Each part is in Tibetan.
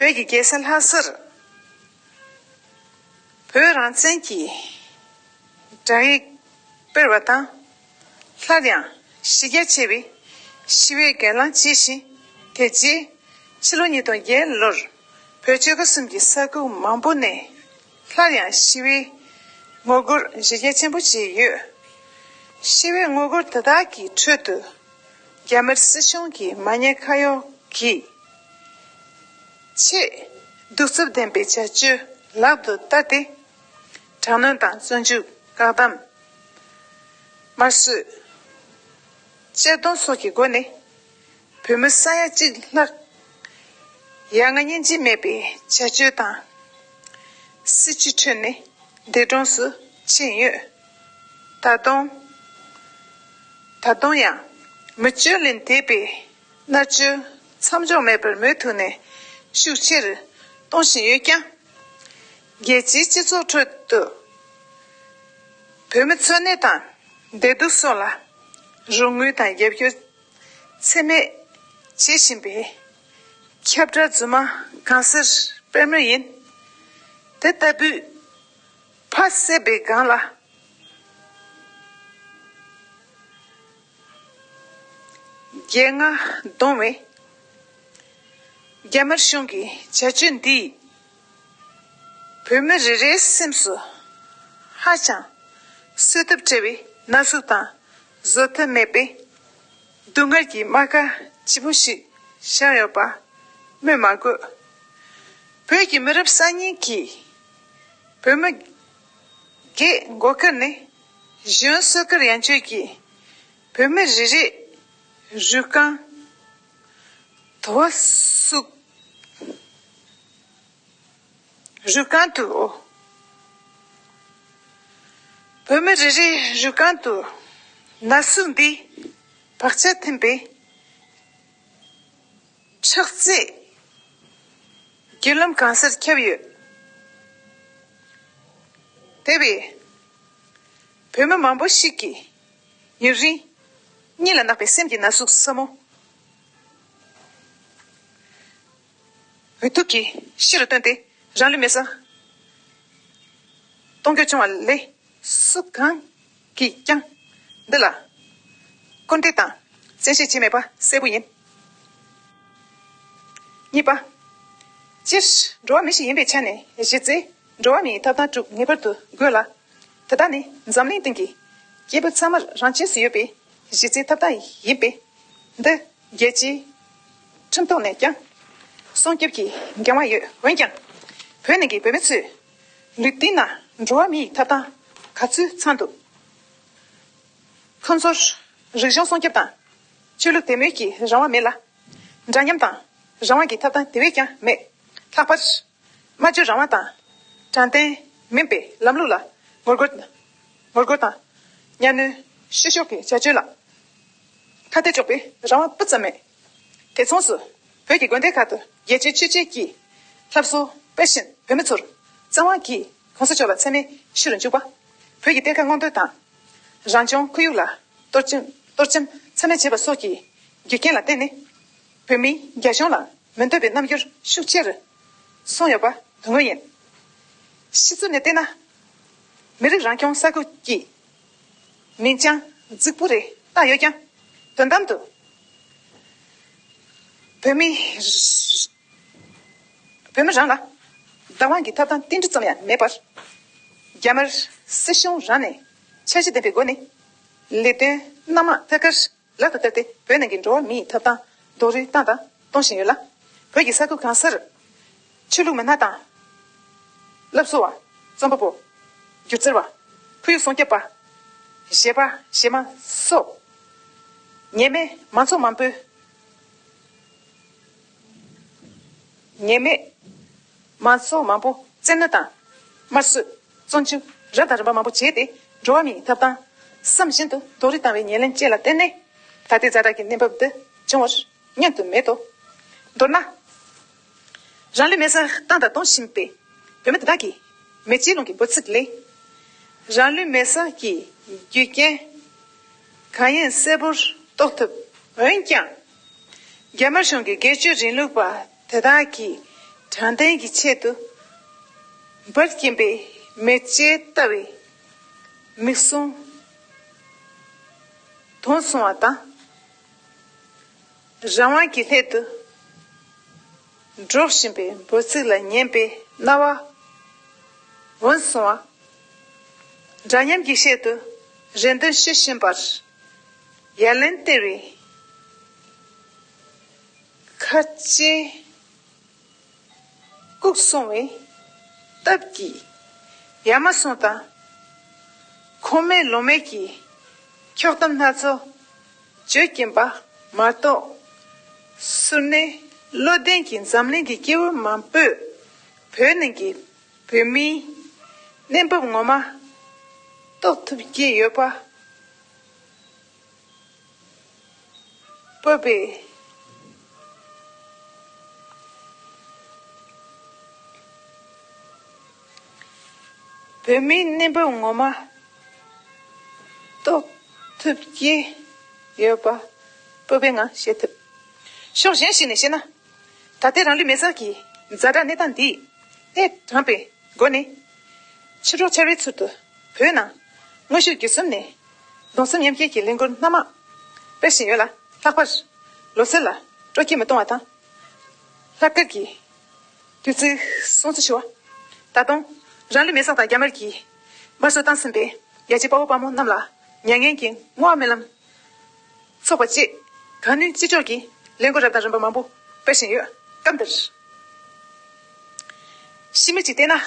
བོད་ཀྱི་རྒྱལ་ས་ལྷ་སར་བོད་རང་བཙན་གྱི་བསྒྲགས་ཡིག་སྤེལ་བ་དང། སླར་ཡང་གཞི་རྒྱ་ཆེ་བའི་ཞི་བའི་སྒེར་ལངས་བྱས་ཤིང། དེ་རྗེས་ཕྱི་ལོ་ཉིས་སྟོང་བརྒྱད་ལོར་བོད་ཆོལ་ཁ་གསུམ་གྱི་ས་ཁུལ་མང་པོ་ནས། སླར་ཡང་ཤི་བའི་དངོས་རྒྱུར་གཞི་རྒྱ་ཆེན་པོ་བཞི་ཡོད། ཤི་བའི་དངོས་རྒྱུ་དེ་དག་གི་ཁྲོད་དུ། རྒྱ་མིར་སྲིད་གཞུང་གི་མ་ཉེས་ཁ་གཡོག་གིས། ཆེས་གདུག་རྩུབ་ལྡན་པའི་བྱ་སྤྱོད་ལག་ཏུ་བསྟར་ཏེ། དྲག་གནོན་དང་བཙོན་འཇུག་བཀག་བསྡམ། དམར་གསོད། གཅར་རྡུང་སོགས་ཀྱི་སྒོ་ནས། བོད་མི་ས་ཡ་གཅིག་ལྷག་ཡ་ང་སྙིང་རྗེ་མེད་པའི་བྱ་སྤྱོད་དང། སྲིད་སྤྱི་ཁྲོད་ནས་འདས་གྲོངས་སུ་ཕྱིན་ཡོད། ད་དུང། ད་དུང་ཡང་མི་སྤྱོད་ལས་འདས་པའི་མནར་གཅོད་མཚམས་འཇོག་མེད་པར་མུ་མཐུད་ནས་ཤུགས་ཆེར་གཏོང་བཞིན་ཡོད་ཀྱང། རྒྱལ་སྤྱིའི་སྤྱི་ཚོགས་ཁྲོད་དུ་བོད་མི་འཚོ་གནས་དང་བདེ་སྡུག་སོགས་ལ་རོགས་དངུལ་དང་རྒྱབ་སྐྱོར། འཚེ་མེད། བྱེད་བཞིན་པའི། ཁྱབ་བསྒྲགས་རྫུན་མ་གང་སེར་སྤེལ་མུས་ཡིན། དེ་ལྟ་བུའི། ཕ་བསད་པའི་སྒང་ལ། རྒྱལ་རྔ་བརྡུང་བའི། རྒྱ་དམར་གཞུང་གི་བྱ་སྤྱོད་འདིས། བོད་མི་རེ་རེའི་སེམས་སུ། ཧ་ཅང་གསོད་ཐབས་བྲལ་བའི་ན་ཟུག་དང། བཟོད་ཐབས་མེད་པའི་སྡུག་བསྔལ་གྱི་རྨ་ཁ་ལྗིད་པོ་ཞིག་ཤར་ཡོད་པ་སྨོས་མ་དགོས། བོད་ཀྱི་མི་རབས་གསར་རྙིང་གིས་བོད་མི་རྒས་མགོ་ཁུར་ནས་གཞོན་བསོད་དཀར་ཡང་སྤྱོད་ཀྱིས་བོད་མི་རེ་རེས་རུས་རྐང་དོ་བ་བསུགས། རུས་རྐང་དུ། བོད་མི་རེ་རེའི་རུས་རྐང་དུ། ན་ཟུག་འདི་བག་ཆགས་འཐེན་པའི་ཁྲག་རྩའི་རྒྱུ་ལམ་གང་སར་ཁྱབ་ཡོད། དེ་བས། བོད་མི་མང་པོ་ཞིག་གིས་ཡུན་རིང་གཉིད་ལ་བརྣག་པའི་སེམས་ཀྱི་ན་ཟུག་སྲབ་མོ། འོད་དུ་གྱིས་ཕྱི་རུ་བཏོན་ཏེ་རང་ལུས་མེ་སྲ་གཏོང་རྒྱུ་བྱུང་བ་ལས་སུ་གང་གིས་ཀྱང་འདི་ལ་སྐུར་འདེབས་དང་བཙན་ཤེད་བྱས་མེད་པ་གསལ་པོ་ཡིན། གཉིས་པ། སྤྱིར་འགྲོ་བ་མི་ཞིག་ཡིན་པའི་ཆ་ནས་གཞི་རྩའི་འགྲོ་བ་མིའི་ཐབས་དང་གྲུབ་ངེས་པར་དུ་དགོས་ལ། དེ་དག་ནི་འཛམ་གླིང་སྟེང་གི་སྐྱེས་བུ་ཚང་མར་རང་ཆས་སུ་ཡོད་པའི་གཞི་རྩའི་ཐབས་དང་ཡིན་པས་འདི་རྒྱལ་སྤྱིའི་ཁྲིམས་ཐོག་ནས་ཀྱང་སྲོང་སྐྱོབ་ཀྱི་འགན་དབང་ཡོད་འོན་ཀྱང། བོད་ནང་གི་བོད་མི་ཚོས་ལུས་སྟེང་ན་འགྲོ་བ་མི་ཡི་ཐབ་ཐང་ག་ཚོད་ཚང་འདུག་ཁོང་ཚོར་རིག་གཞུང་སྲོང་སྐྱོབ་དང། ཆོས་ལུགས་དད་མོས་ཀྱི་རང་དབང་མེད་ལ། འདྲ་མཉམ་དང་རང་དབང་གི་ཐབ་ཐང་དེ་བས་ཀྱང་མེད། ལྷག་པར། སྨྲ་བརྗོད་རང་དབང་དང། དྲང་བདེན། མིན་པའི་ལམ་ལུགས་ལ་ངོ་རྒོལ། ངོ་རྒོལ་དང། གཉའ་གནོན། བཤུ་གཞོག་གི་བྱ་སྤྱོད་ལ། ཁ་གཏད་གཅོག་པའི་རང་དབང་སྤུ་ཙམ་མེད། དེ་མཚུངས་སུ། བོད་ཀྱི་དགོན་སྡེ་ཁག་ཏུ་རྒྱལ་གཅེས་ཆོས་གཅེས་ཀྱིས། ལྷབ་གསོལ་སྤེལ་བཞིན་བོད་མི་ཚོར། བཙན་དབང་གིས་གོང་ས་མཆོག་ལ་མཚན་སྨད་ཞུ་རུ་འཇུག་པ། བོད་ཀྱི་གཏེར་ཁ་སྔོག་འདོན་དང། རང་བྱུང་ཁོར་ཡུག་ལ། གཏོར་བཅམ་མཚན་སྨད་བྱེད་པ་སོགས་ཀྱི། རྒྱུ་རྐྱེན་ལ་བརྟེན་ནས། བོད་མི་རྒྱ་གཞུང་ལ་མི་འདོད་པའི་རྣམ་འགྱུར་ཤུགས་ཆེར་སོང་ཡོད་པ་དོན་དངོས་ཡིན། ཕྱི་ཚུལ་ནས་བལྟས་ན། མི་རིགས་རང་སྐྱོང་ས་ཁུལ་གྱི་མིང་བྱང་རྫིག་པོ་རེ་བཏགས་ཡོད་ཀྱང་དོན་དམ་དུ་བོད་མི་རང་ལ་བདག་དབང་གི་ཐབས་དང་རྟེན་འབྲེལ་ཙམ་ཡང་མེད་པར། རྒྱ་དམར་སྲིད་གཞུང་རང་ནས་འཆར་གཞི་ལྡན་པའི་སྒོ་ནས་ལས་དོན་སྣ་མང་ཐད་ཀར་ལག་ཏུ་བསྟར་ཏེ་བོད་ནང་གི་འགྲོ་བ་མིའི་ཐོབ་ཐང་རྡོག་རོལ་བཏང་དང་གཏོང་བཞིན་ཡོད་ལ། བོད་ཀྱི་ས་ཁུལ་གང་སར་ཆོས་ལུགས་མི་སྣ་དང། སློབ་གསོ་བ། རྩོམ་པ་པོ། སྒྱུ་རྩལ་བ། ཁོར་ཡུག་སྲུང་སྐྱོབ་པ། གཞས་པ་གཞས་མ་སོགས་ཉེས་མེད་མང་ཚོགས་མང་པོའི། ཉེས་མེད། མ་སྲོག་མང་པོ་བཙན་གནོད་དང། དམར་གསོད། བཙོན་འཇུག། རབ་དང་རིམ་པ་མང་པོ་བྱས་ཏེ། འགྲོ་བ་མིའི་ཐབས་དང། བསམ་བཞིན་དུ་རྡོ་རིགས་བཏང་བའི་ཉེར་ལེན་བཅས་ལ་བརྟེན་ནས། ད་ལྟའི་རྫ་དྲག་གི་གནས་བབ་འདི་བྱུང་བར་བསྙོན་དུ་མེད་དོ། མདོར་ན། རང་ལུས་མེ་སར་བཏང་དང་གཏོང་བཞིན་པའི་བོད་མི་དེ་དག་གིས། མེ་ལྕེའི་རླུང་གི་འབོད་ཚིག་ལས། རང་ལུས་མེ་སར་གྱི་རྒྱུ་རྐྱེན་གང་ཡིན་གསལ་པོར་རྟོགས་ཐུབ། འོན་ཀྱང། རྒྱ་དམར་གཞུང་གི་སྒེར་གཅོད་རིང་ལུགས་པ་དེ་དག་གིས་དྲང་བདེན་གྱི་ཆེད་དུ། འབར་བཞིན་པའི་མེ་ལྕེ་ལྟ་བུའི་མིག་ཟུང་དུང་སོང་བ་དང། རང་དབང་གི་སླད་དུ་སྒྲོག་བཞིན་པའི་འབོད་ཚིག་ལ་ཉན་པའི་རྣ་བ་འོན་སོང་བ། འདྲ་མཉམ་གྱི་ཆེད་དུ་རེ་འདུན་བཞེས་བཞིན་པར་ཡ་ལན་སྟེར་བའི། ཁ་ལྕེ་བཀུག་སོང་བའི་སྟབས་ཀྱིས་ཡ་མ་ཟུང་དང། ཁོ་མོའི་ལོ་མས་ཀྱི་འཁྱོག་གཏམ་སྣ་ཚོགས་བརྗོད་ཀྱིན་པ་མ་གཏོགས། སུར་སྣེ་བློ་ལྡན་གྱིས་འཛམ་གླིང་གི་སྐྱེ་བོ་མང་པོས་བོད་ནང་གི་བོད་མིའི་གནས་བབ་ངོ་མ་རྟོགས་ཐུབ་ཀྱི་ཡོད་པ་བོད་པའི། བོད་མིའི་གནས་བབ་ངོ་མ། རྟོགས་ཐུབ་ཀྱི་ཡོད་པ་སྤོབས་པའི་ངང་བཤད་ཐུབ། ཕྱོགས་གཞན་ཞིག་ནས་བཤད་ན། ད་ལྟའི་རང་ལུས་མེར་བསྲེགས་ཀྱི་རྫ་དྲག་གནས་སྟངས་འདིས། ཨེ་དྲངས་པའི་སྒོ་ནས། ཕྱི་དྲོ་ཆར་བའི་ཚུལ་དུ་བོད་ནང། དངོས་ཤུགས་བརྒྱུད་གསུམ་ནས་གདུང་སེམས་མཉམ་སྐྱེད་ཀྱི་གླིང་སྐོར་སྣ་མང། དཔེར་བཞིན་ཡོད་ལ། ལྷག་པར། ལོ་སེར་ལ། སྤྲོ་སྐྱིད་མི་གཏོང་བ་དང། ལྷག་དཀར་གྱི། དུས་ཚིགས། སྲུང་བརྩི་ཞུ་བ། ད་དུང། རང་ལུས་མེ་བསྲེགས་དང་རྒྱ་དམར་གྱིས། དམར་གསོད་བཏང་ཟིན་པའི། རྒྱལ་གཅེས་དཔའ་བོ་དཔའ་མོ་རྣམས་ལ། མྱ་ངན་གྱི་བསྔོ་བ་སྨོན་ལམ། ཚོགས་པ་བཅས། གང་ནུས་ཅི་ལྕོགས་ཀྱིས། གླིང་སྐོར་རབ་དང་རིམ་པ་མང་པོ། དཔེར་བཞིན་ཡོད། སྐབས་འདིར། ཤི་མི་གཅིག་བསྟེན་ན།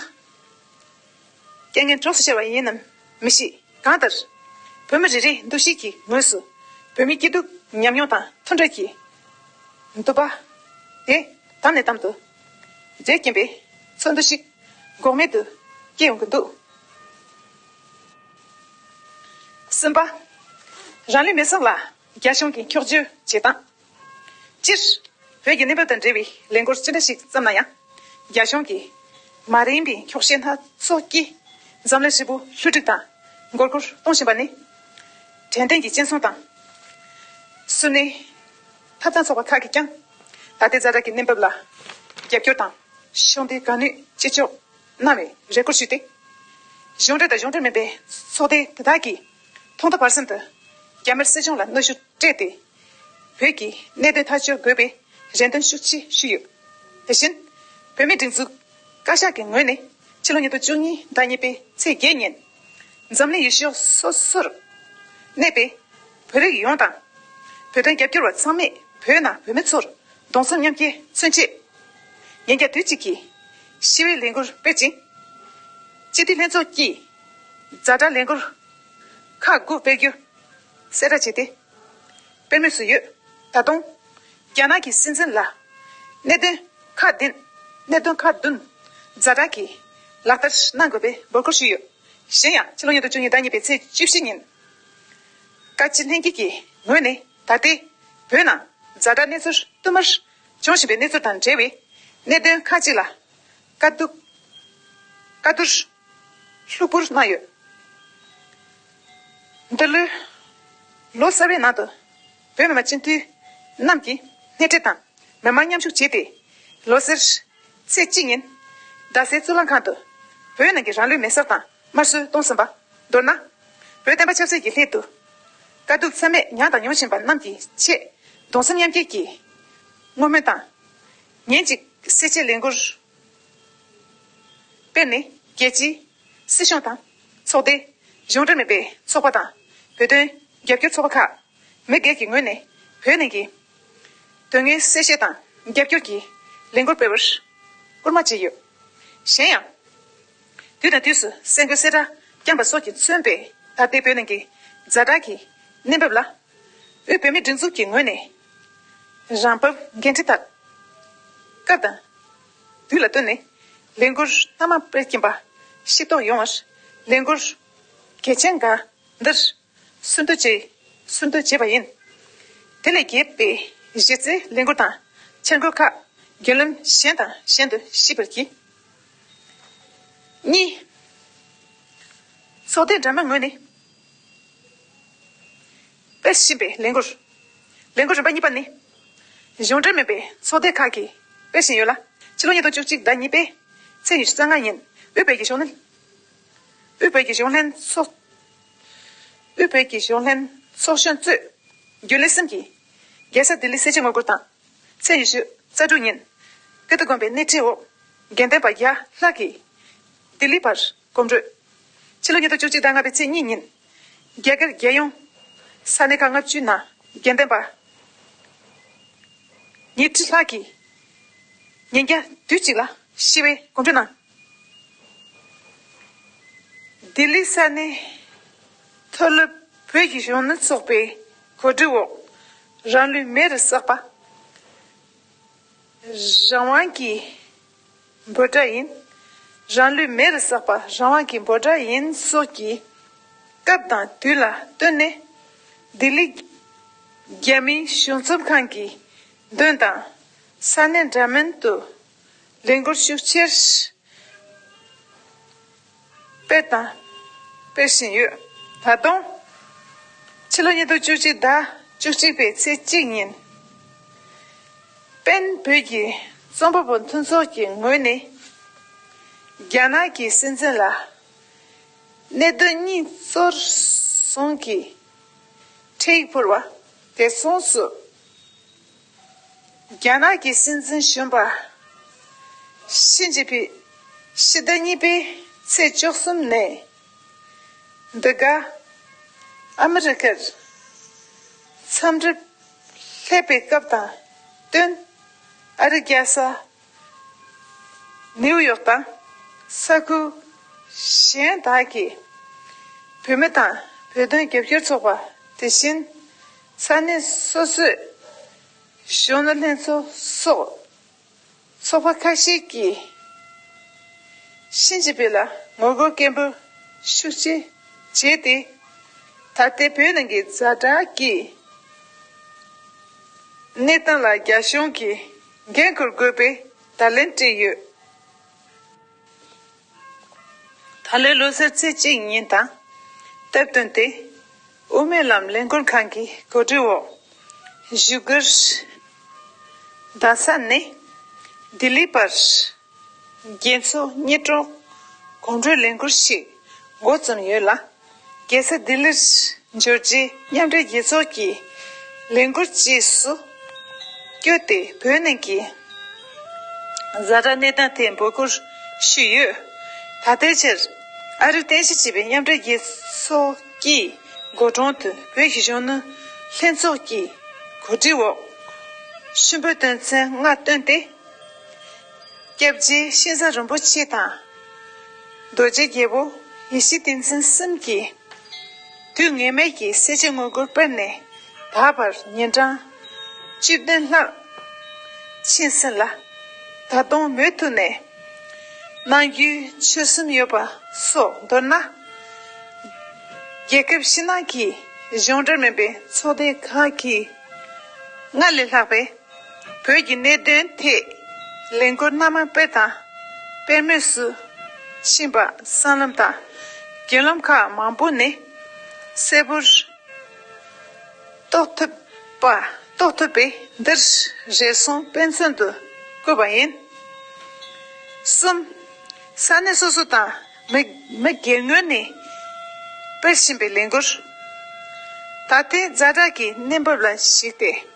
རྐྱེན་ངན་གྲོགས་སུ་ཤར་བ་ཡིན་ནམ་མི་ཤེས། གང་ལྟར། བོད་མི་རེ་རེའི་འདུ་ཤེས་ཀྱི་ངོས་སུ། བོད་མིའི་སྐྱིད་སྡུག་མཉམ་མྱོང་དང་མཐུན་འབྲེལ་གྱི། འདུ་བ། དེ་དམ་ནས་དམ་དུ། འདྲེས་ཀྱིན་པའི། ཚོར་འདུ་ཞིག། འགོག་མེད་དུ། སྐྱེས་ཡོང་གི་འདུག། གསུམ་པ། རང་ལུས་མེ་སྲོག་ལ། རྒྱ་གཞུང་གིས་འཁྱོག་བརྗོད་བྱེད་སྟངས། སྤྱིར། བོད་ཀྱི་གནས་བབ་དང་འབྲེལ་བའི་ལས་འགུལ་ཅི་འདྲ་ཞིག་བརྩམས་ན་ཡང། རྒྱ་གཞུང་གིས་མ་རན་པའི་འཁྱོག་བཤད་སྣ་ཚོགས་ཀྱིས་འཛམ་གླིང་ཧྲིལ་པོ་ལྷུ་སྒྲིག་དང་མགོ་སྒུར་གཏོང་བཞིན་པ་ནི། དྲན་རྟེན་གྱི་སྤྱན་ཟུང་དང། སུན་སྣའི་ཐབས་དང་ཚོགས་པ་ཁག་གིས་ཀྱང། ད་ལྟའི་རྫ་དྲག་གི་གནས་བབ་ལ་རྒྱབ་སྐྱོར་དང། ཕྱོགས་འདིའི་དགའ་ནུས་ཅི་ལྕོགས་རྣ་བའི་རེ་སྐོར་ཞུས་ཏེ། གཞུང་འབྲེལ་དང་གཞུང་འབྲེལ་མིན་པའི་ཚོགས་སྡེ་དེ་དག་གིས་ཐོག་མཐའ་བར་གསུམ་དུ་རྒྱ་དམར་སྲིད་གཞུང་ལ་གནོད་ཤུགས་སྤྲད་དེ། བོད་ཀྱི་གནད་དོན་ཐག་གཅོད་དགོས་པའི་རེ་འདུན་ཤུགས་ཆེ་ཞུས་ཡོད། དེ་བཞིན། བོད་མིའི་སྒྲིག་འཛུགས་བཀའ་ཤག་གི་ངོས་ནས་ཕྱི་ལོ་ཉིས་སྟོང་བཅུ་གཉིས་ཟླ་གཉིས་པའི་ཚེས་བརྒྱད་ཉིན། འཛམ་གླིང་ཡུལ་ཕྱོགས་སོ་སོར་གནས་པའི་བོད་རིགས་ཡོངས་དང། བོད་དོན་རྒྱབ་སྐྱོར་བ་ཚང་མས་བོད་ནང་བོད་མི་ཚོར་གདུང་སེམས་མཉམ་སྐྱེ་མཚོན་ཆེད། ཉིན་བརྒྱ་དུས་གཅིག་གི་ཞི་བའི་ལས་འགུལ་སྤེལ་ཅིང། སྤྱི་འཐུས་ལྷན་ཚོགས་ཀྱིས་གཟའ་སྒྲ་ལས་འགུལ་ཁག་དགུ་སྤེལ་རྒྱུ་གསལ་བསྒྲགས་བྱས་ཏེ། དཔེ་དངོས་སུ་ཡོད། ད་དུང། རྒྱ་ནག་གི་སྲིད་འཛིན་ལ། གནད་དོན་ཁག་བདུན། གནད་དོན་ཁག་བདུན། རྫ་དྲག་གིས། ལག་བསྟར་གནང་དགོས་པའི་འབོད་སྐུལ་ཞུས་ཡོད། གཞན་ཡང་ཕྱི་ལོ་ཉིས་སྟོང་བཅུ་གཉིས་ཟླ་གཉིས་པའི་ཚེས་བཅུ་བཞི་ཉིན། བཀའ་སྤྱི་ལྷན་རྒྱས་ཀྱི་ངོས་ནས་ད་ལྟའི་བོད་ནང་རྫ་དྲག་གནས་ཚུལ་བསྟུད་མར་འབྱུང་བཞིན་པའི་གནས་ཚུལ་དང་འབྲེལ་བའི་གནད་དོན་ཁག་ཅིག་ལ། བཀའ་བསྡུར། ཤུབ་བུར་སྣང་ཡོད། འདི་ལོའི་ལོ་གསར་བའི་ནང་དུ་བོད་མི་མང་སྤྱི་འཐུས་རྣམས་ཀྱིས་སྣེ་ཁྲིད་དང་མི་མང་མཉམ་ཞུགས་བྱས་ཏེ། ལོ་སར་ཚེས་གཅིག་ཉིན་རྡ་སའི་གཙུག་ལག་ཁང་དུ་བོད་ནང་གི་རང་ལུས་མེ་སྲེག་དང་དམར་གསོད་གཏོང་ཟིན་པ། མདོར་ན། བོད་བསྟན་པ་ཆབ་སྲིད་ཀྱི་སླད་དུ་དཀའ་སྡུག་ཚད་མེད་མྱངས་དང་མྱོང་བཞིན་པ་རྣམས་ཀྱི་ཆེད་གདུང་སེམས་མཉམ་སྐྱེད་ཀྱི་བསྔོ་སྨོན་དང། ཉིན་གཅིག་གསལ་བྱེད་ལས་འགུལ། དཔེར་ནི། རྒྱལ་སྤྱི། སྲིད་གཞུང་དང། ཚོགས་སྡེ། གཞུང་འབྲེལ་མིན་པའི་ཚོགས་པ་དང། བོད་དོན། རྒྱབ་སྐྱོར་ཚོགས་པ་ཁག། མི་སྒེར་གྱི་ངོས་ནས་བོད་ནང་གི། དོན་དངོས་གསལ་བཤད་དང་རྒྱབ་སྐྱོར་གྱི། ལས་འགུལ་སྤེལ་བར། སྐུལ་མ་བྱས་ཡོད། གཞན་ཡང། དུས་དང་དུས་སུ་གསལ་འགོད་གསལ་བསྒྲགས་བསྐྱངས་པ་སོགས་ཀྱིས་མཚོན་པའི་ད་ལྟའི་བོད་ནང་གི། རྫ་དྲག་གི་གནས་བབ་ལ། དབུས་བོད་མིའི་སྒྲིག་འཛུགས་ཀྱི་ངོས་ནས། རང་བབས་འགན་འཁྲི་དག། སྐབས་དང་དུས་ལ་བསྟུན་ནས། ལས་འགུལ་སྣ་མང་སྤེལ་གྱིན་པ། ཤེས་རྟོགས་ཡོང་བར། ལས་འགུལ་གལ་ཆེན་འགའ་འདིར། སུན་བསྡུ་བྱས། སུན་བསྡུ་བྱས་པ་ཡིན། དེ་ལས་གྱེས་པའི་གཞི་རྩའི་ལས་འགུལ་དང་འཆར་འགོད་ཁག་རྒྱུན་ལམ་གཞན་དང་གཞན་དུ་ཞིབ་པར་གྱིས། གཉིས། ཚོགས་སྡེ་འདྲ་མིན་ངོས་ནས། དཔེ་བཞིན་པའི་ལས་འགུལ། ལས་འགུལ་རིམ་པ་གཉིས་པ་ནི། གཞུང་འབྲེལ་མིན་པའི་ཚོགས་སྡེ་ཁག་གིས་སྤེལ་བཞིན་ཡོད་ལ། ཕྱི་ལོ་ཉིས་སྟོང་བཅུ་གཅིག་ཟླ་གཉིས་པའི་ཚེས་ཉི་ཤུ་རྩ་ལྔ་ཉིན་དབུས་བོད་ཀྱི་གཞུང་ལྷན། དབུས་བོད་ཀྱི་གཞུང་ལྷན་ཚོགས། དབུས་བོད་ཀྱི་གཞུང་ལྷན་ཚོགས་གཞོན་གཙོས་རྒྱུན་ལས་གསུམ་གྱིས། རྒྱལ་ས་ལྡི་ལི་གསལ་བྱེད་ངོ་རྒོལ་དང། ཚེས་ཉི་ཤུ་རྩ་དྲུག་ཉིན་ཀིརྟི་དགོན་པའི་སྣེ་ཁྲིད་འོག་དགེ་ལྡན་པ་བརྒྱ་ལྷག་གིས་ལྡི་ལི་བར་གོམ་བགྲོད། ཕྱི་ལོ་ཉིས་སྟོང་བཅུ་གཅིག་ཟླ་ལྔ་པའི་ཚེས་གཉིས་ཉིན། རྒྱ་གར་རྒྱལ་ཡོངས་ས་གནས་ཁག་ལྔ་བཅུའི་ནང་རྒྱལ་བསྟན་པ། ཉིས་ཁྲི་ལྷག་གིས་ཉིན་བརྒྱ་དུས་གཅིག་ལ་ཞི་བའི་གོམ་བགྲོད་གནང། ལྡི་ལི་ས་གནས་མཐོ་སློབ་བོད་ཀྱི་གཞུང་ནུ་ཚོགས་པའི་གོ་སྒྲིག་འོག་རང་ལུས་མེ་རུ་བསྲེགས་པ། རང་དབང་གི། འབོད་སྒྲ་ཡིན། རང་ལུས་མེ་རུ་བསྲེགས་པ་རང་དབང་གི་འབོད་སྒྲ་ཡིན་སོགས་ཀྱི་སྐབས་དང་དུས་ལ་བསྟུན་ནས། ལྡི་ལི་རྒྱལ་མིའི་གཞུང་ཚབ་ཁང་གི་མདུན་དང། ས་གནས་འདྲ་མིན་དུ་ལས་འགུལ་ཤུགས་ཆེར། སྤེལ་དང། སྤེལ་བཞིན་ཡོད། ད་དུང། ཕྱི་ལོ་ཉིས་སྟོང་བཅུ་གཅིག་ཟླ་བཅུ་གཅིག་པའི་ཚེས་གཅིག་ཉིན། པེན་བོད་ཀྱི་རྩོམ་པ་པོ་མཐུན་ཚོགས་ཀྱི་ངོས་ནས། རྒྱ་ནག་གི་སྲིད་འཛིན་ལ། གནད་དོན་གཉིས་གཙོར་བཟུང་གིས། འཕྲལ་ཡིག་ཕུལ་བ། དེ་མཚུངས་སུ། རྒྱ་ནག་གི་སྲིད་འཛིན་གཞོན་པ། ཞི་ཅིན་ཕིང། ཕྱི་ཟླ་གཉིས་པའི་ཚེས་བཅུ་གསུམ་ནས། འདི་ག་ཨ་མི་རི་ཀར་འཚམས་འདྲི་སླེབས་པའི་སྐབས་དང་བསྟུན། ཨ་རི་རྒྱལ་ས་ནེའུ་ཡོག་དང་ས་ཁུལ་གཞན་དག་གི་བུད་མེད་དང་བོད་དོན་རྒྱབ་སྐྱོར་ཚོགས་པ་དེ་བཞིན་ས་གནས་སོ་སོའི་གཞོན་ནུ་ལྷན་ཚོགས་སོགས་ཚོགས་པ་ཁ་ཤས་ཀྱིས་ཤིན་ཅི་པེ་ལ་ངོ་རྒོལ་སྐད་འབོད་ཤུགས་ཆེ་བྱས་ཏེ། ད་ལྟའི་བོད་ནང་གི་རྫ་དྲག་གི་གནས་སྟངས་ལ་རྒྱ་གཞུང་གིས། འགན་འཁུར་དགོས་པའི་བརྡ་ལན་སྤྲད་ཡོད། ད་ལོའི་ལོ་གསར་ཚེས་གཅིག་ཉིན་དང་སྟབས་བསྟུན་ཏེ། དབུ་མའི་ལམ་ལས་འགུལ་ཁང་གི་གོ་སྒྲིག་འོག་བཞུགས་སྒར་རྡ་ས་ནས་ལྡི་ལི་བར་རྒྱལ་མཚོ་སྙེ་གྲོགས་གོམ་བགྲོད་ལས་འགུལ་ཞིག་མགོ་རྩོམ་ཡོད་ལ། རྒྱལ་ས་ལྡི་ལིར་འབྱོར་རྗེས་མཉམ་འབྲེལ་རྒྱལ་ཚོགས་ཀྱི་ལས་འགུལ་བཅས་སུ་བསྐྱོད་དེ་བོད་ནང་གི་བཟའ་བཅའ་གནས་སྟངས་ཐད་འབོད་སྐུལ་ཞུས་ཡོད། ད་ལྟའི་ཆར་ཨ་རིར་རྟེན་གཞི་བྱས་པའི་མཉམ་འབྲེལ་རྒྱལ་ཚོགས་ཀྱི་སྒོ་དྲུང་དུ་བོད་ཀྱི་གཞོན་ནུ་ལྷན་ཚོགས་ཀྱིས་གོ་སྒྲིག་འོག་ཤུན་པོའི་དོན་ཚན་ལྔ་བཏོན་ཏེ། སྐྱབས་རྗེ་ཤིང་བཟའ་རིན་པོ་ཆེ་དང། རྡོ་རྗེ་རྒྱལ་པོ་ཡེ་ཤེས་བསྟན་འཛིན་གསུམ་གྱིས། དུས་ངེས་མེད་ཀྱི་གསལ་བྱེད་དངོས་སྒོར་སྤེལ་ནས་ད་བར་ཉིན་གྲངས་བཅུ་བདུན་ལྷག་ཕྱིན་ཟིན་ལ། ད་དུང་མུ་མཐུད་ནས་གནང་རྒྱུའི་ཆོད་སེམས་ཡོད་པ་སོགས་མདོར་ན། རྒྱལ་ཁབ་ཕྱི་ནང་གི་གཞུང་འབྲེལ་མིན་པའི་ཚོགས་སྡེ་ཁག་གིས་སྔར་ལས་ལྷག་པའི། བོད་ཀྱི་གནད་དོན་ཐད་ལས་འགུལ་སྣ་མང་སྤེལ་དང་སྤེལ་མུས་སུ་ཕྱིན་པ་སྲང་ལམ་དང་རྒྱུན་ལམ་ཁག་མང་པོ་ནས་གསལ་པོར་རྟོགས་ཐུབ་པས་འདིར་རེ་ཟུང་དཔེ་མཚོན་དུ་བཀོད་པ་ཡིན། གསུམ། ས་གནས་སོ་སོ་དང་མི་སྒེར་ངོས་ནས་སྤེལ་བཞིན་པའི་ལས་འགུལ། ད་ལྟའི་རྫ་བྲག་གི་གནས་བབ་ལ་གཞིགས་ཏེ།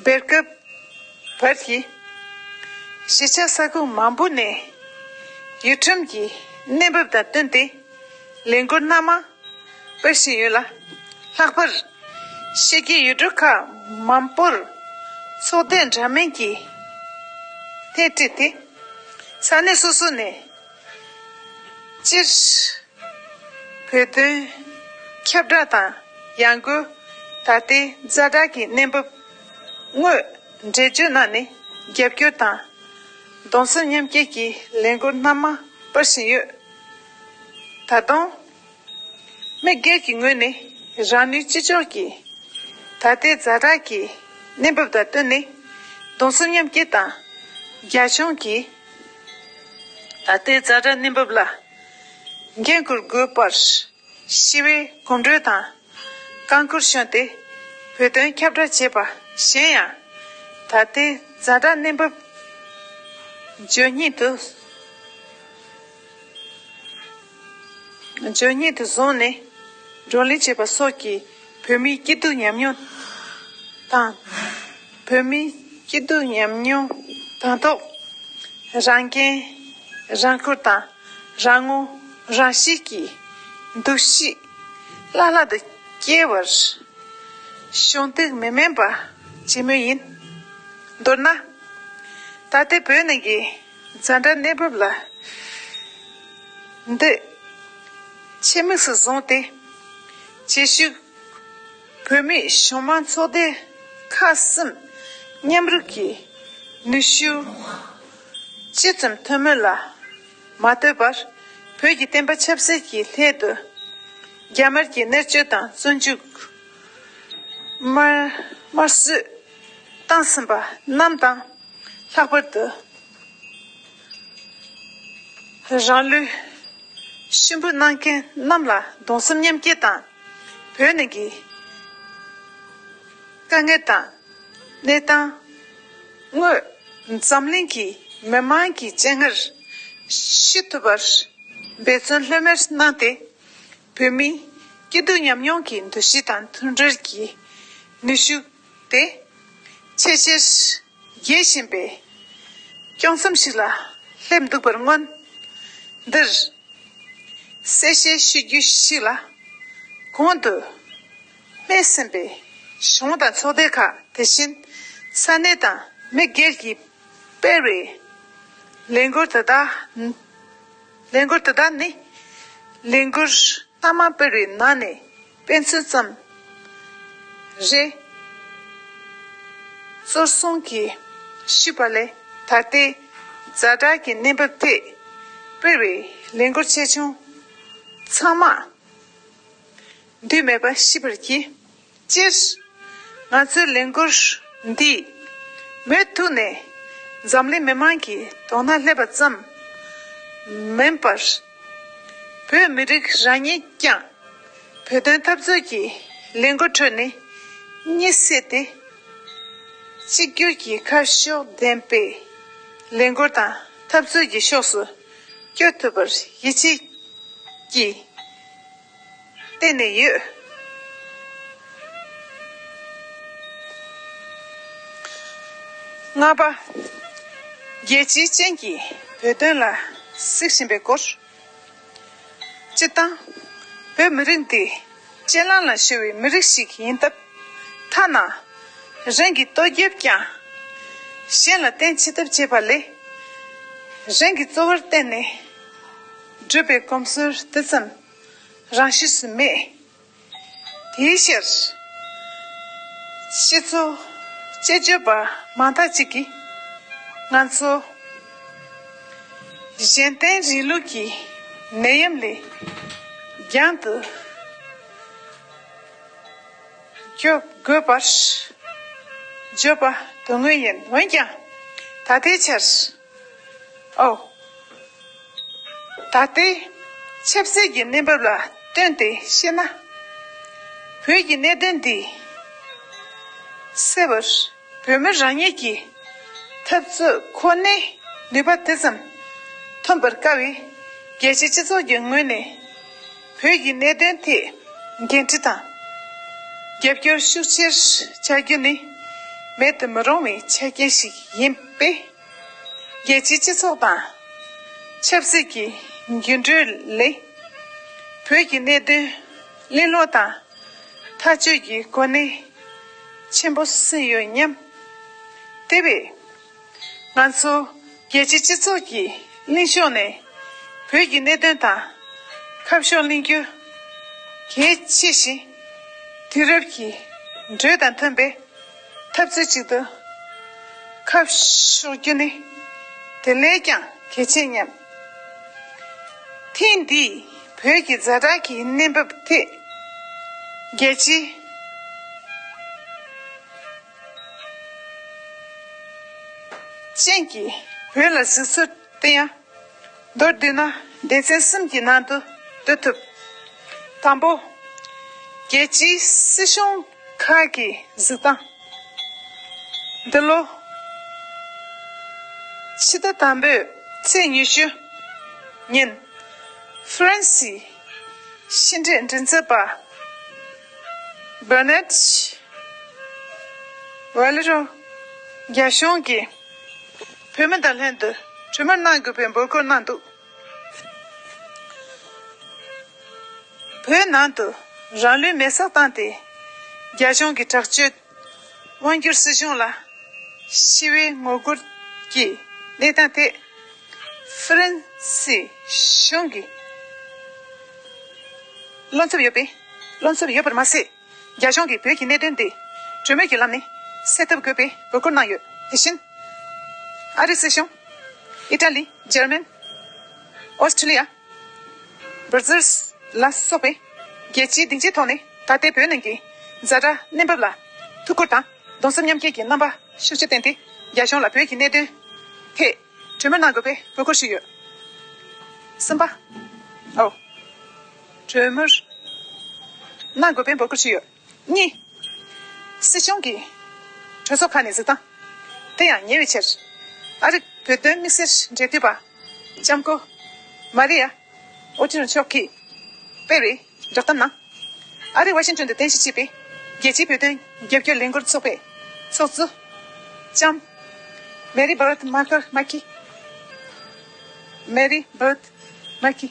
སྦེལ་ཀུབ། བྷར་ཧི། གཞིས་ཆགས་ས་ཁུལ་མང་པོ་ནས་ཡུལ་ཁྲིམས་ཀྱི་གནས་བབ་དང་བསྟུན་ཏེ་ལས་འགུལ་སྣ་མང་སྤེལ་བཞིན་ཡོད་ལ། ལྷག་པར་ཤེས་རྒྱའི་ཡུལ་གྲུ་ཁག་མང་པོར་ཚོགས་སྡེ་འདྲ་མིན་གྱིས་ཐད་བྲིས་ཏེ་ས་གནས་སོ་སོ་ནས། སྤྱིར། བོད་དོན་ཁྱབ་བསྒྲགས་དང་ཡང་སྒོས་ད་ལྟའི་རྫ་དྲག་གི་གནས་བབ་དངོས་འགྲེལ་བརྗོད་གནང་ནས་རྒྱབ་སྐྱོར་དང། གདུང་སེམས་མཉམ་སྐྱེད་ཀྱི་ལས་འགུལ་སྣ་མང་སྤེལ་བཞིན་ཡོད། ད་དུང། མི་སྒེར་གྱི་ངོས་ནས་རང་ནུས་ཅི་ལྕོགས་ཀྱིས་ད་ལྟའི་རྫ་བྲག་གི་གནས་བབ་དང་བསྟུན་ནས་གདུང་སེམས་མཉམ་སྐྱེ་དང། རྒྱ་གཞུང་གིས་ད་ལྟའི་རྫ་བྲག་གནས་བབ་ལ་འགན་འཁུར་དགོས་པར་ཞི་བའི་གོམ་བགྲོད་དང་རྐང་བསྐུར་བྱོན་ཏེ་བོད་དོན་ཁྱབ་བསྒྲགས་བྱས་པ་གཞན་ཡང། ད་ལྟའི་རྫ་བྲག་གནས་བབ་བརྗོད་སྙིང་དུ། བརྗོད་ཉིད་དུ་བཟུང་ནས་བགྲོ་གླེང་བྱེད་པ་སོགས་ཀྱིས་བོད་མིའི་སྐྱིད་སྡུག་མཉམ་མྱོང་དང། བོད་མིའི་སྐྱིད་སྡུག་མཉམ་མྱོང་དང་ཐོག་རང་འགན་རང་འཁུར་དང་རང་ངོ་རང་ཤེས་ཀྱི་འདུ་ཤེས་བླ་ལྷག་ཏུ་སྐྱེ་བར་གཞོགས་འདེགས་མི་དམན་པ་བྱེད་མུས་ཡིན། མདོར་ན། ད་ལྟའི་བོད་ནང་གི། འཛའ་འདྲ་གནས་བབ་ལ་འདི་ཆེད་དམིགས་སུ་བཟུང་སྟེ། བྱེས་ཤུལ་བོད་མིའི་གཞུང་མང་ཚོགས་སྡེ་ཁག་གསུམ་མཉམ་རུབ་ཀྱིས་ནུས་ཤུགས་ཅི་ཙམ་ཐོན་མིན་ལ་མ་ལྟོས་པར་བོད་ཀྱི་བསྟན་པ་ཆབ་སྲིད་ཀྱི་ལྷད་དུ་རྒྱ་དམར་གྱི་གནས་བཅོལ་དང་བཙོན་འཇུག་དམར་གསོད། བཏང་ཟིན་པ་རྣམས་དང། ལྷག་པར་དུ། རང་ལུས་གཤིན་པོ་གནང་མཁན་རྣམས་ལ་གདུང་སེམས་མཉམ་སྐྱེད་དང། བོད་ནང་གི་དཀའ་ངལ་དང་གནས་སྟངས་དངོས། འཛམ་གླིང་གི་མི་དམངས་ཀྱི་སྤྱན་སྔར་ཞི་ཐུབ་པར་འབད་བརྩོན་ལྷོད་མེད་གནང་སྟེ། བོད་མིའི་སྐྱིད་སྡུག་མཉམ་མྱོང་གི་འདུ་ཤེས་དང་མཐུན་སྒྲིལ་གྱི་ནུས་ཤུགས་ཏེ། ཆེས་ཆེར་རྒྱས་བཞིན་པས། སྐྱོང་མཚམས་ཤིག་ལ་སླེབས་འདུག་པར་མངོན། འདིར་གསལ་བཤད་ཞུ་རྒྱུ་ཞིག་ལ། གོང་དུ་སྨྲས་ཟིན་པའི་གཞུང་དང་ཚོགས་སྡེ་ཁག་དེ་བཞིན་ས་གནས་དང་མི་སྒེར་གྱིས་སྤེལ་བའི་ལས་འགུལ་དེ་དག་ལས་འགུལ་དེ་དག་ནི་ལས་འགུལ་སྣ་མང་སྤེལ་བའི་ནང་ནས། དཔེ་མཚོན་བརྩམས། རེ། གཙོར་བཟུང་གིས་ཞུས་པ་ལས་ད་ལྟའི་རྫ་དྲག་གི་གནས་བབ་ཐད་སྤེལ་བའི་ལས་འགུལ་ཆེ་ཆུང་ཚང་མ་འདུས་མེད་པ་ཤེས་པར་གྱིས། སྤྱིར་ང་ཚོའི་ལས་འགུལ་འདིས་མུ་མཐུད་ནས་འཛམ་གླིང་མི་དམངས་ཀྱི་དོགས་སྣང་སླེབས་པ་ཙམ་མིན་པར། བོད་མི་རིགས་རང་ཉིད་ཀྱང། བོད་དོན་འཐབ་རྩོད་ཀྱི་ལས་འགུལ་ཁྲོད་ནས་གཉིད་སད་དེ། གཅིག་གྱུར་གྱི་ཁ་ཕྱོགས་ལྡན་པའི་ལས་འགུལ་དང་འཐབ་རྩོད་ཀྱི་ཕྱོགས་སུ་སྐྱོད་ཐུབ་པར་ཡིད་ཆེས་ཀྱིས། བརྟེན་ནས་ཡོད། ལྔ་པ། རྒྱལ་སྤྱི་ཅན་གྱི་བོད་དོན་ལ་གཟིགས་བཞིན་པའི་སྐོར། སྤྱི་བཏང། བོད་མི་རིགས་འདི་གཅེས་ལང་ལང་ཤོར་བའི་མི་རིགས་ཤིག་ཡིན་སྟབས། ཐ་ན་རང་གི་ལྟོ་རྒྱབ་ཀྱང་གཞན་ལ་བརྟེན་ཅི་ཐུབ་བྱེད་པ་ལས། རང་གི་གཙོ་བོར་བརྟེན་ནས། བགྲོད་པའི་གོམས་སྲོལ་དེ་ཙམ་རང་ཤུགས་སུ་མེད། དེའི་ཕྱིར། ཕྱི་ཚུལ་དཔྱད་བརྗོད་པ་མང་དག་ཅིག་གིས། ང་ཚོ་གཞན་བརྟེན་རིང་ལུགས་ཀྱི་ནད་ཡམས་ལས་རྒྱང་དུ་སྐྱོབ་དགོས་པར་བརྗོད་པ་དོན་དངོས་ཡིན། འོན་ཀྱང། ད་ལྟའི་ཆར། ཨོ། ད་ལྟའི་ཆབ་སྲིད་ཀྱི་གནས་བབ་ལ་ལྟོས་ཏེ་བཤད་ན། བོད་ཀྱི་གནད་དོན་འདི་སེལ་བར་བོད་མི་རང་ཉིད་ཀྱི་འཐབ་རྩོད་ཁོ་ནའི་ནུས་པ་དེ་ཙམ་ཐོན་པར་དཀའ་བས། རྒྱལ་སྤྱིའི་སྤྱི་ཚོགས་ཀྱི་ངོས་ནས། བོད་ཀྱི་གནད་དོན་ཐད་འགན་འཁྲི་དང་རྒྱབ་སྐྱོར་ཤུགས་ཆེར་བྱ་རྒྱུ་ནི་མེད་དུ་མི་རུང་བའི་ཆ་རྐྱེན་ཞིག་ཡིན་པས། རྒྱལ་སྤྱིའི་སྤྱི་ཚོགས་དང་ཆབ་སྲིད་ཀྱི་འགྱུར་འགྲོས་ལས་བོད་ཀྱི་གནད་དོན་གླེང་སློང་དང་ཐག་གཅོད་ཀྱི་གོ་གནས་ཆེན་པོ་སོན་ཡོད་སྙམ། དེ་བས། ང་ཚོ་རྒྱལ་སྤྱིའི་སྤྱི་ཚོགས་ཀྱིས་གླིང་ཕྱོགས་ནས་བོད་ཀྱི་གནད་དོན་དང། ཁ་ཕྱོགས་གླེང་རྒྱུ་གལ་ཆེ་ཞིང། དུས་རབས་ཀྱི་འགྲོས་དང་མཐུན་པའི་འཐབ་རྩོད་ཅིག་ཏུ་ཁ་ཕྱོགས་རྒྱུ་ནི་དེ་ལས་ཀྱང་གལ་ཆེ་སྙམ། ཐེངས་འདིའི་བོད་ཀྱི་རྫ་བྲག་གི་གནས་བབ་ཐད། རྒྱལ་སྤྱིའི། ཅན་གྱི་བོད་ལ་གཟིགས་ཚུལ་བསྟན་ཡང། མདོར་བསྡུས་ན་སྡེ་ཚན་གསུམ་གྱི་ནང་དུ་བསྡུ་ཐུབ། དང་པོ། རྒྱལ་སྤྱིའི་སྲིད་གཞུང་ཁག་གི་གཟིགས་སྟངས། འདི་ལོ་ཕྱི་ཟླ་དང་པོའི་ཚེས་ཉི་ཤུ་ཉིན་ཧྥ་རན་སིའི་ཕྱི་འབྲེལ་མགྲིན་ཚབ་པ། བཱ་ནད། ཝེ་ལི་རོ། རྒྱ་གཞུང་གིས་བོད་མི་དང་ལྷན་དུ་གྲོས་མོལ་གནང་དགོས་པའི་འབོད་སྐུལ་གནང་འདུག་བོད་ནང་དུ་རང་ལུས་མེ་སྲེག་བཏང་སྟེ་རྒྱ་གཞུང་གི་དྲག་སྤྱོད། དབང་བསྒྱུར་སྲིད་གཞུང་ལ་ཞི་བའི་ངོ་རྒོལ་གྱི་གནས་སྟངས་ཐད། ཧྥ་རན་སིའི་གཞུང་གིས་བློ་འཚབ་ཡོད་པའི་བློ་འཚབ་ཡོད་པར་མ་ཟད། རྒྱ་གཞུང་གིས་བོད་ཀྱི་གནད་དོན་འདི་གྲོས་མོལ་གྱི་ལམ་ནས་སེལ་ཐབས་དགོས་པའི་འབོད་སྐུལ་གནང་ཡོད། དེ་བཞིན་ཨ་རིའི་སྲིད་གཞུང། ཨི་ཏྲ་ལི། འཇར་མན། ཨོ་སི་ཁྲི་ལི་ཡ། འབུར་རྩེར། ལ་སོགས་པའི། རྒྱལ་སྤྱིའི་སྡིངས་ཆའི་ཐོག་ནས་ད་ལྟའི་བོད་ནང་གི། རྫ་དྲ་གནས་བབ་ལ། ཐུགས་ཁུར་དང། གདུང་སེམས་མཉམ་སྐྱེད་ཀྱི་རྣམ་པ་ཤུགས་ཆེ་བསྟན་ཏེ། རྒྱ་གཞུང་ལ་བོད་ཀྱི་གནད་དོན། ཐད། གྲོས་མོལ་གནང་དགོས་པའི་དགོས་མཁོར་ཞུས་ཡོད། གསུམ་པ། ཨོ། གྲོས་མོལ། གནང་དགོས་པའི་འབོད་སྐུལ་ཞུས་ཡོད། གཉིས། སྲིད་གཞུང་གིས་གྲོས་ཚོགས་ཁག་ནས་གཟིགས་སྟངས་དེ་ཡང་ཉེ་བའི་ཆར་ཨ་རིག་བོད་དོན་དམིགས་བསལ་འབྲེལ་མཐུད་པ་ལྕམ་སྐུ་མཱ་རི་ཡ་ཨོ་ཏི་རུ་མཆོག་གིས་སྤེལ་བའི་བསྒྲགས་གཏམ་ནང། ཨ་རིས་ཝ་ཤིང་ཏོན་དུ་རྟེན་གཞི་བྱས་པའི་རྒྱལ་སྤྱིའི་བོད་དོན་རྒྱབ་སྐྱོར་ལས་འགུལ་ཚོགས་པའི་ཚོགས་གཙོ་ལྕམ་མེ་རི་བྷར་ཏ་མཱ་ཀི། Mary Byrd Mackey།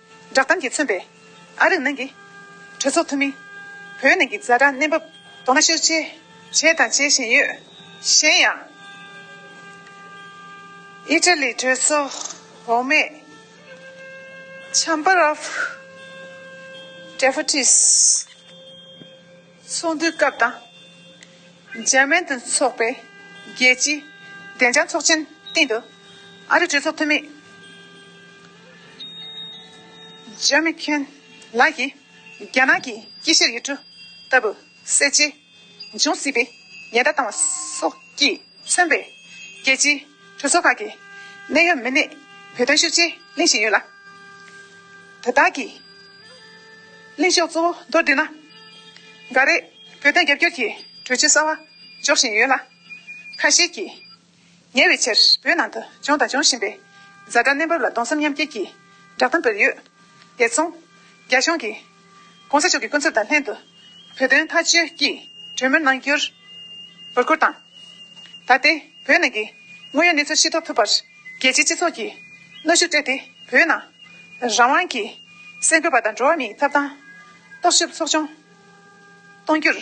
བསྒྲགས་གཏམ་གྱིས་མཚོན་པའི་ཨ་རིག་ནང་གི་གྲོས་ཚོགས་འཐུས་མི། བོད་ནང་གི་རྫ་དྲག་གནས་བབ། དོ་སྣང་ཤུགས་ཆེ་བྱས་དང་བྱེད་བཞིན་ཡོད། གཞན་ཡང། ཨི་ཏྲ་ལི་གྲོས་ཚོགས་འོག་མའི། Chamber of Deputies། ཚོགས་འདུའི་སྐབས་དང། འཇར་མན་དུ་འཚོགས་པའི་རྒྱལ་སྤྱིའི་བདེ་འཇགས་ཚོགས་ཆེན་སྟེང་དུ། ཨ་རིའི་གྲོས་ཚོགས་འཐུས་མི། ཇོན་མེག་ཁེན་ལགས་ཀྱིས་རྒྱ་ནག་གི་དཀྱིལ་བཤེར་ཡུལ་གྲུ་ལྟ་བུ་གསལ་བྱེད་འབྱུང་སྲིད་པའི་ཉེན་བརྡ་བཏང་བ་སོགས་ཀྱིས་མཚོན་པའི་རྒྱལ་སྤྱིའི་གྲོས་ཚོགས་ཁག་གི་གནད་ཡོད་མི་སྣས་བོད་དོན་ཤུགས་ཆེ་གླེང་བཞིན་ཡོད་ལ། དོ་བདག་གིས་གླེང་ཕྱོགས་གཙོ་བོ་མདོར་བསྡུས་ན། འགའ་རེས་བོད་དོན་རྒྱབ་སྐྱོར་གྱི་གྲོས་ཆོད་གསར་བ་འཇོག་བཞིན་ཡོད་ལ། ཁ་ཤས་ཀྱིས་ཉེ་བའི་ཆར་བོད་ནང་དུ་བྱུང་དང་འབྱུང་བཞིན་པའི་བཟའ་ཟླ་གནས་བབ་ལ་གདོང་སེམས་མཉམ་སྐྱེད་ཀྱི་བསྒྲགས་གཏམ་སྤེལ་ཡོད། དེ་མཚུངས་རྒྱ་གཞུང་གིས། གོང་ས་མཆོག་གི་སྐུ་ཚབ་དང་ལྷན་དུ། བོད་དོན་མཐའ་གཅོད་ཀྱི་གྲོས་མོལ་གནང་རྒྱུར་འབོད་སྐུལ་དང། ད་ལྟའི་བོད་ནང་གི་དངོས་ཡོད་གནས་ཚུལ་ཤེས་རྟོགས་ཐུབ་པར་རྒྱལ་སྤྱིའི་སྤྱི་ཚོགས་ཀྱིས་གནོད་ཤུགས་སྤྲད་དེ་བོད་ནང་རང་དབང་གི་སེམས་ཁུར་བ་དང་འགྲོ་བ་མིའི་ཐབ་ཐང་རྟོག་ཞིབ་ཚོགས་ཆུང་གཏོང་རྒྱུར་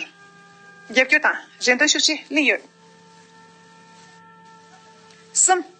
རྒྱབ་སྐྱོར་དང་རེ་འདུན་ཤུགས་ཆེ་གླེང་ཡོད། གསུམ།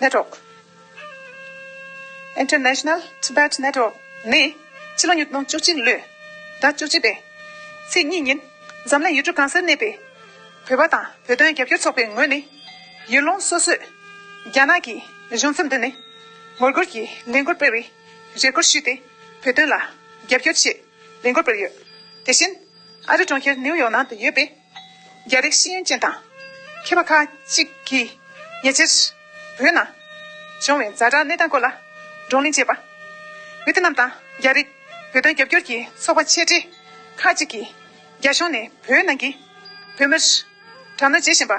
Network International Tibet Network ནི་ཕྱི་ལོ་ཉིས་སྟོང་བཅུ་གཅིག་ལོའི་ཟླ་བཅུ་གཅིག་པའི་ཚེས་གཉིས་ཉིན་འཛམ་གླིང་ཡུལ་གྲུ་གང་སར་གནས་པའི་བོད་པ་དང་བོད་དོན་རྒྱབ་སྐྱོར་ཚོགས་པའི་ངོས་ནས་ཡུལ་ལུང་སོ་སོས་རྒྱ་ནག་གི་གཞུང་ཚབ་མདུན་ནས་ངོ་རྒོལ་གྱི་ལས་འགུལ་སྤེལ་བའི་རེ་སྐུལ་ཞུས་ཏེ་བོད་དོན་ལ་རྒྱབ་སྐྱོར་ཆེད་ལས་འགུལ་སྤེལ་ཡོད། དེ་བཞིན་ཨ་རི་གྲོང་ཁྱེར་ནིའུ་ཡོག་ནང་དུ་ཡོད་པའི། རྒྱ་རིགས་ཤེས་ཡོན་ཅན་དང་མཁས་པ་ཁག་གཅིག་གིས་ཉེ་ཆར། བོད་ནང་བྱུང་བའི་རྫ་དྲག་གནས་སྟངས་སྐོར་ལ་བགྲོ་གླེང་བྱས་པ། ཝེ་ཐི་ནམ་དང་རྒྱ་རིགས་བོད་དོན་རྒྱབ་སྐྱོར་གྱི་ཚོགས་པ་ཆེ་གྲས་ཁག་གཅིག་གིས་རྒྱ་གཞུང་ནས་བོད་ནང་གི་བོད་མིར་དྲག་གནོན་བྱེད་བཞིན་པ་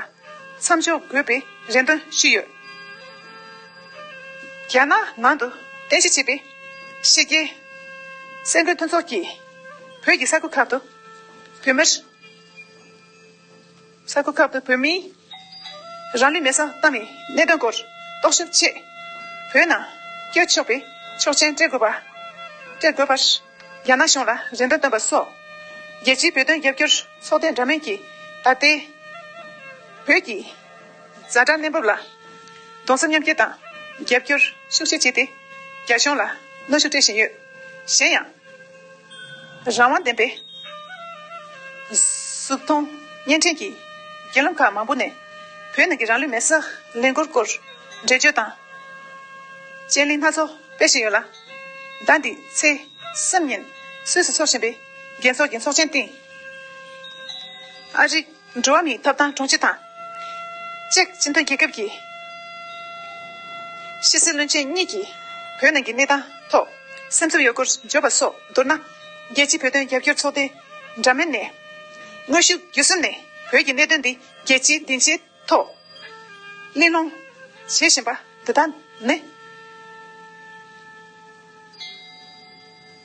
མཚམས་འཇོག་དགོས་པའི་རེ་འདུན་ཞུས་ཡོད། རྒྱ་ནག་ནང་དུ་རྟེན་གཞི་བྱས་པའི་ཕྱི་རྒྱལ་སེམས་མགོན་མཐུན་ཚོགས་ཀྱིས་བོད་ཀྱི་ས་ཁུལ་ཁག་ཏུ་བོད་མིར། ས་ཁུལ་ཁག་ཏུ་བོད་མིའི་རང་ལུས་མེ་གསང་བཏང་བའི་གནད་དོན་སྐོར་རྟོག་ཞིབ་ཆེད་བོད་ནང་བསྐྱོད་ཆོག་པའི་ཆོག་མཆན་སྤྲད་དགོས་པ། སྤྲད་དགོས་པར་རྒྱ་ནག་གཞུང་ལ་རེ་འདུན་བཏོན་པ་སོགས། རྒྱལ་སྤྱིའི་བོད་དོན་རྒྱབ་སྐྱོར་ཚོགས་སྡེ་འདྲ་མིན་གྱིས་ད་ལྟའི་བོད་ཀྱི་གཟའ་སྒྲ་གནས་བབ་ལ་གདུང་སེམས་མཉམ་སྐྱེ་དང་རྒྱབ་སྐྱོར་ཤུགས་ཆེ་བྱས་ཏེ་རྒྱ་གཞུང་ལ་གནོན་ཤུགས་སྤྲད་བཞིན་ཡོད། གཞན་ཡང། རང་དབང་ལྡན་པའི་གཟུགས་མཐོང་བརྙན་འཕྲིན་གྱི་རྒྱུད་ལམ་ཁག་མང་པོ་ནས་བོད་ནང་གི་རང་ལུས་མེར་བསྲེགས་ལས་འགུལ་སྐོར་འགྲེལ་བརྗོད་དང་དཔྱད་གླེང་སྣ་ཚོགས་སྤེལ་བཞིན་ཡོད་ལ། ཟླ་འདིའི་ཚེས་གསུམ་ཉིན་སུད་སུ་འཚོགས་བཞིན་པའི་རྒྱལ་ཚོགས་ཀྱི་ཚོགས་ཆེན་སྟེང་ཨ་རིའི་འགྲོ་བ་མིའི་ཐོབ་ཐང་དྲུང་ཆེ་དང། ཅེཀ་སྤྱི་མཐུན་རྒྱལ་ཁབ་ཀྱི་ཕྱི་སྲིད་བློན་ཆེན་གཉིས་ཀྱིས་བོད་ནང་གི་གནས་སྟངས་ཐོག་སེམས་ཚོར་ཡོད་སྐོར་བརྗོད་པ་སོགས་མདོར་ན། རྒྱལ་སྤྱིའི་བོད་དོན་རྒྱབ་སྐྱོར་ཚོགས་སྡེ་འདྲ་མིན་ནས་དངོས་ཤུགས་བརྒྱུད་གསུམ་ནས་བོད་ཀྱི་གནད་དོན་འདི་རྒྱལ་སྤྱིའི་སྡིངས་ཆའི་ཐོག་གླེང་སློང་བྱེད་བཞིན་པ་འདི་དག་ནི།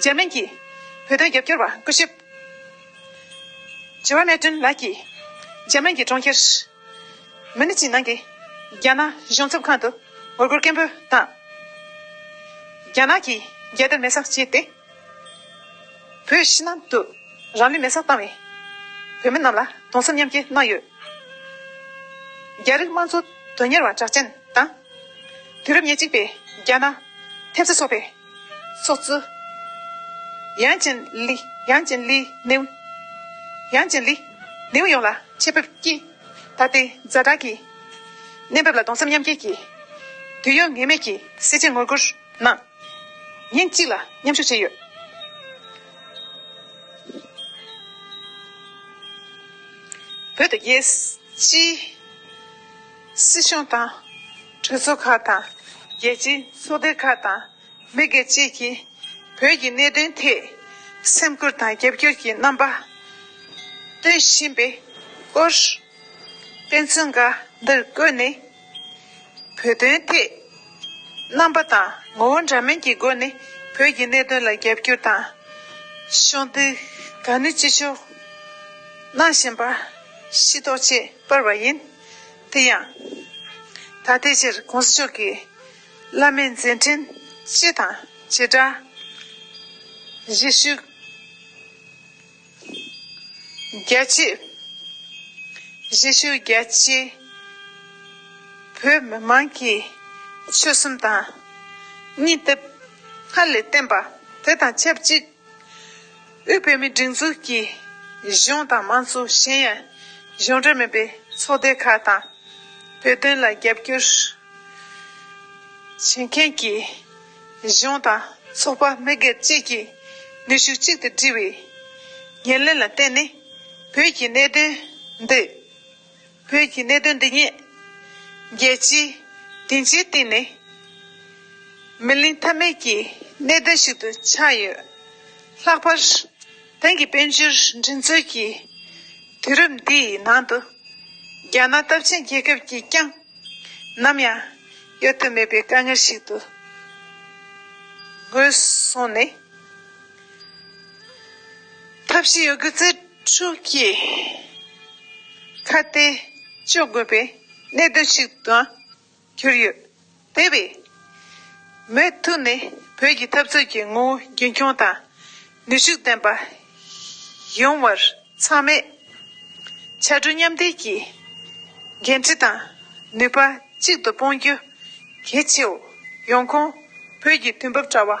འཇར་མན་གྱི་བོད་དོན་རྒྱབ་སྐྱོར་བ་སྐུ་ཞབས Gerard Martin ལགས་ཀྱིས་འཇར་མན་གྱི་གྲོང་ཁྱེར་མུ་ནི་ཅི་ནང་གི་རྒྱ་ནག་གཞུང་ཚབ་ཁང་དུ་ངོ་རྒོལ་སྐད་འབོད་དང། རྒྱ་ནག་གིས་རྒྱལ་དར་མེ་སྲ་བྱས་ཏེ་བོད་ཕྱི་ནང་དུ་རང་ལུས་མེ་སྲ་བཏང་བའི་བོད་མི་རྣམས་ལ་དུང་སེམས་མཉམ་སྐྱེ་གནང་ཡོད། རྒྱ་རིགས་དམངས་གཙོ་དོན་གཉེར་བ་གྲགས་ཅན་དང། དུས་རབས་ཉེར་གཅིག་པའི་རྒྱ་ནག་ཐེབས་རྩ་ཚོགས་པའི། སོགས་བརྩི། ཡང་ཅིན་ལི། ཡང་ཅིན་ལི། ནེའུ། ཡང་ཅིན་ལི། ནེའུ་ཡོངས་ལ་ཆེད་ཕེབས་ཀྱིས། ད་ལྟའི་མཛའ་གྲགས་ཀྱི། གནས་བབ་ལ་གདུང་སེམས་མཉམ་སྐྱེད་ཀྱིས། དུས་ཡུན་ངེས་མེད་ཀྱི་གསལ་བྱེད་ངོ་རྒོལ་གནང། ཉིན་གཅིག་ལ་མཉམ་ཞུགས་བྱས་ཡོད། བོད་དུ་རྒྱལ་སྤྱིའི། སྲིད་གཞུང་དང། གྲོས་ཚོགས་ཁག་དང། རྒྱལ་སྤྱིའི་ཚོགས་སྡེ་ཁག་དང། མི་སྒེར་བཅས་ཀྱིས་བོད་ཀྱི་གནད་དོན་ཐད། སེམས་ཁུར་དང་རྒྱབ་སྐྱོར་གྱི་རྣམ་པ་སྟོན་བཞིན་པའི་སྐོར། དཔེ་མཚོན་འགའ་འདིར་བཀོད་ནས། བོད་དོན་ཐད། རྣམ་པ་དང་ངོ་བོ་འདྲ་མིན་གྱི་སྒོ་ནས་བོད་ཀྱི་གནད་དོན་ལ་རྒྱབ་སྐྱོར་དང། ཕྱོགས་འདུས་གང་ནུས་ཅི་ལྕོགས་གནང་བཞིན་པ། ཤེས་རྟོགས་བྱེད་པར་བ་ཡིན། དེ་ཡང། ད་ལྟའི་ཆར ྋགོང་ས་མཆོག་གིས་བླ་མའི་མཛད་འཕྲིན་སྤྱི་དང་བྱེ་བྲག་གཞིས་བཞུགས་རྒྱལ་གཅེས་བོད་མི་མང་གི་ཆོལ་གསུམ་དང། གཉིས་སྡེབ་སྔར་ལས་བརྟན་པ་དེ་དང་ཆབས་ཅིག། དབུས་བོད་མིའི་སྒྲིག་འཛུགས་ཀྱི་གཞུང་དང་མང་གཙོ་གཞན་ཡང་གཞུང་འབྲེལ་མིན་པའི་ཚོགས་སྡེ་ཁག་དང། བོད་དོན་ལ་རྒྱབ་སྐྱོར་བྱེད་མཁན་གྱི་གཞུང་དང་ཚོགས་པ་མི་སྒེར་བཅས་ཀྱིས་ནུས་ཤུགས་གཅིག་ཏུ་སྒྲིལ་བའི་ཉེར་ལེན་ལ་བརྟེན་ནས་བོད་ཀྱི་གནད་དོན་འདི་བོད་ཀྱི་གནད་དོན་འདི་ཉིད། རྒྱལ་སྤྱིའི་སྡིངས་ཆའི་སྟེང་ནས་མི་གླེང་ཐབས་མེད་ཀྱི་གནད་དོན་ཞིག་ཏུ་ཆགས་ཡོད། ལྷག་པར་དེང་གི་དཔལ་འབྱོར་འགྲན་རྩོད་ཀྱི་དུས་རབས་འདིའི་ནང་དུ། རྒྱ་ནག་སྟོབས་ཆེན་རྒྱལ་ཁབ་ཀྱིས་ཀྱང་ནམ་ཡང་གཡོལ་ཐབས་མེད་པའི་དཀའ་ངལ་ཞིག་ཏུ་ངོས་བཟུང་ནས། ཐབས་ཤེས་ཡོད་རྒུ་རྩལ། ཆུ་སྐྱེས། ཁ་གཏད་གཅོག་དགོས་པའི་གནད་དོན་ཞིག་ཏུའང་གྱུར་ཡོད། དེ་བས། མུ་མཐུད་ནས་བོད་ཀྱི་འཐབ་རྩོད་ཀྱི་ངོ་བོ་རྒྱུན་འཁྱོངས་དང་ནུས་ཤུགས་ལྡན་པ་ཡོང་བར་ཚང་མས་ཕྱར་གྲུ་མཉམ་འདེགས་ཀྱི་འགན་འཁྲི་དང་ནུས་པ་གཅིག་ཏུ་སྤུངས་རྒྱུ་གལ་ཆེའོ། ཡོང་ཁུངས་བོད་ཀྱི་དུས་བབ་དྲ་བ།